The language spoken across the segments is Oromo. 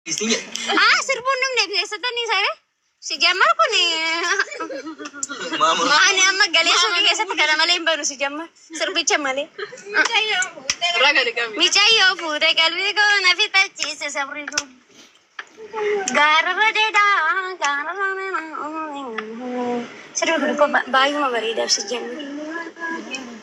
Ah, sirbuun dhumne keessattan isa re. Si jammar kun ani amma galee suuqii keessatti kana malee hin banu si jammar. Sirbicha malee. Micayyoo fuudhee qalbii koo na fixachiise sabri koo. Gaararra deedaa gaararra nama. Sirbi kun koo baay'uma bareedaaf si jammar.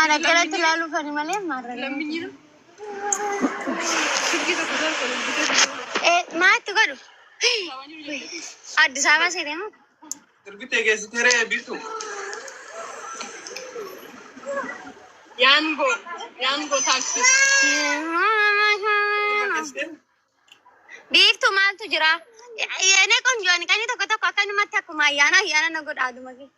Ana akkanatti ilaaluuf ani malee marranii. Eh, Maatti godhu. Addis Ababa seetee moo? Durbitee keessatti hiree biiftu. Yaangoo. Yaangoo taaksii. Biiftuu maaltu jira? Yene qonjoon qanii tokko tokko akkanumatti akkuma ayyaana ayyaana na godha aduma kee.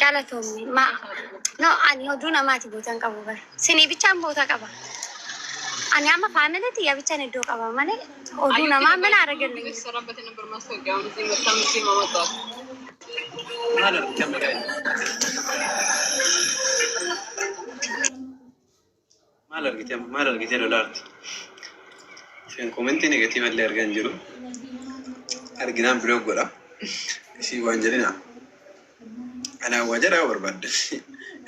Galatoomi ma no ani oduu namaati bootan qabu bar sinii bichaan boota qaba ani amma faamilii tiyya bichaan iddoo qaba malee oduu namaa mana aragan Maal argite amma? Maal argite lolaarti? Isheen komentii negatiiva illee argaa hin jiru. Arginaan biloog godha. Isii waan jedhina. Anaa waa jedhaa barbaadda.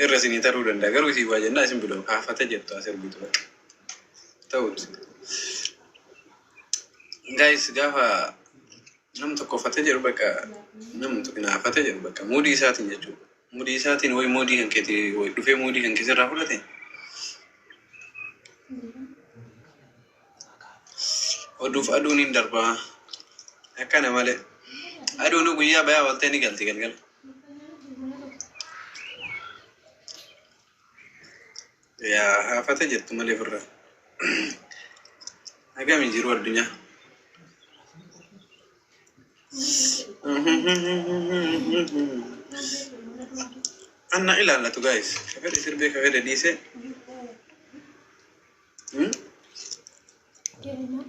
Irra isinii taruu danda'a. Garuu isii waa jennaa isin biloog haafata jettu as ergitu bakka. Ta'uuti. Gaayis gaafa Nam tokkofate jedhu bakka nam xinaafate jedhu bakka muudii isaatiin jechuudha. Muudii isaatiin wayi muudii kan keeti wayi dhufee muudii kan keessa irraa fudhate. Oduuf aduun hin darbaa. Akkana malee. Aduun guyyaa bayaa waltee ni galti galgala. Yaa haafata jettu malee firra. Agami jiru addunyaa. Anna ilaallatu gaayis. Kafedhe sirbee kafedhe dhiisee. Hmm?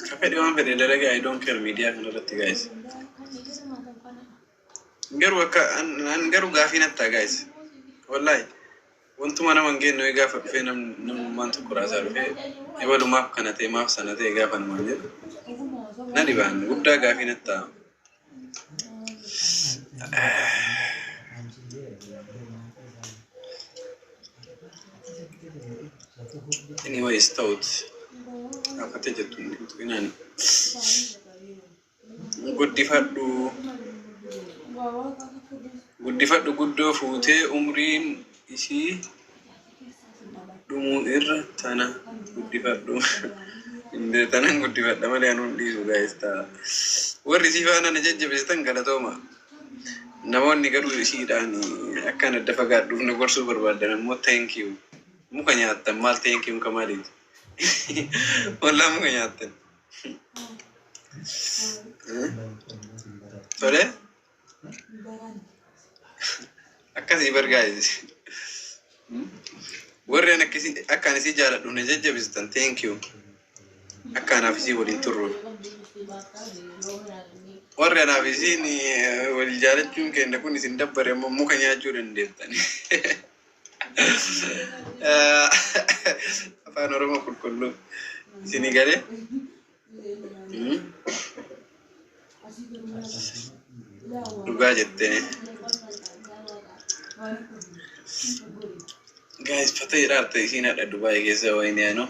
Kafedhe waan fedhe dalagaa I don't care miidiyaa kanarratti gaayis. Garuu akka an, an garuu gaafii natti ta'a guys. Wallahi wantuma nama hin geenne wayii gaafa dhufee nam, namummaan tokko raasaa dhufee ebalu maaf kana ta'e maaf sana ta'e gaafa namaan jedhu na dhibaan guddaa gaafii natti ta'a. Anyways ta'uuti. Gaafate jettu hin tuqinaani. guddifadhu guddifadhu guddoo fuutee umriin isii dhumuu irra tana guddifadhu Indee tanan guddifadha malee anuun dhiisu gaa'ista warri isii faana na jajjabeessitan galatooma namoonni garuu isiidhaan akkaan adda fagaadhuuf na gorsuu barbaadan ammoo thank you muka nyaattan maal thank you ka maaliiti wallaa muka nyaattan Tole. Akkasii bargaa'e. Warreen akkasii akkaan isii jaaladhu na jajjabistan thank you. Akka anaaf isii waliin turru. Warri anaaf isiin eh, wal jaalachuun keenya kun isin dabbare ammoo muka nyaachuu dandeettan. Afaan Oromoo qulqulluu isinii galee. Dhugaa jettee. Gaayis fata jedhaa ta'e isiin hadha Dubaayii keessa wayinee anoo.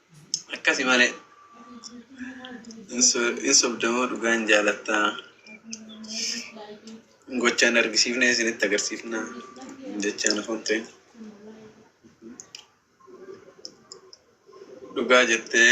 Akkasi malee. Hin so- hin sobdamoo dhugaa hin jaalattaa. Gochaan argisiifnee isinitti agarsiifnaa. Jechaan afaan ta'e. Dhugaa jettee.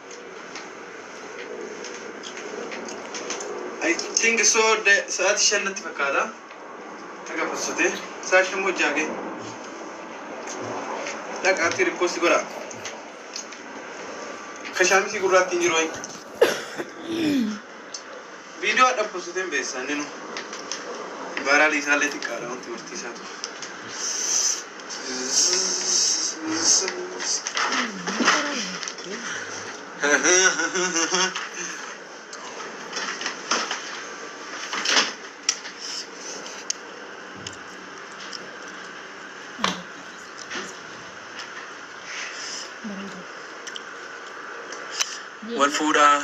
I think so the sa'aatii shan natti fakkaata. Akka possite sa'aatii shan moo ja'a ga'e. Dhaqaatti riposti godha. Kashaamitii gurraattiin jiru wayi. Viidiyoo adda postiteen beessa inni nu baaraali isaallee xiqqaadha wanti barsiisaa ture. Wal fuudhaa.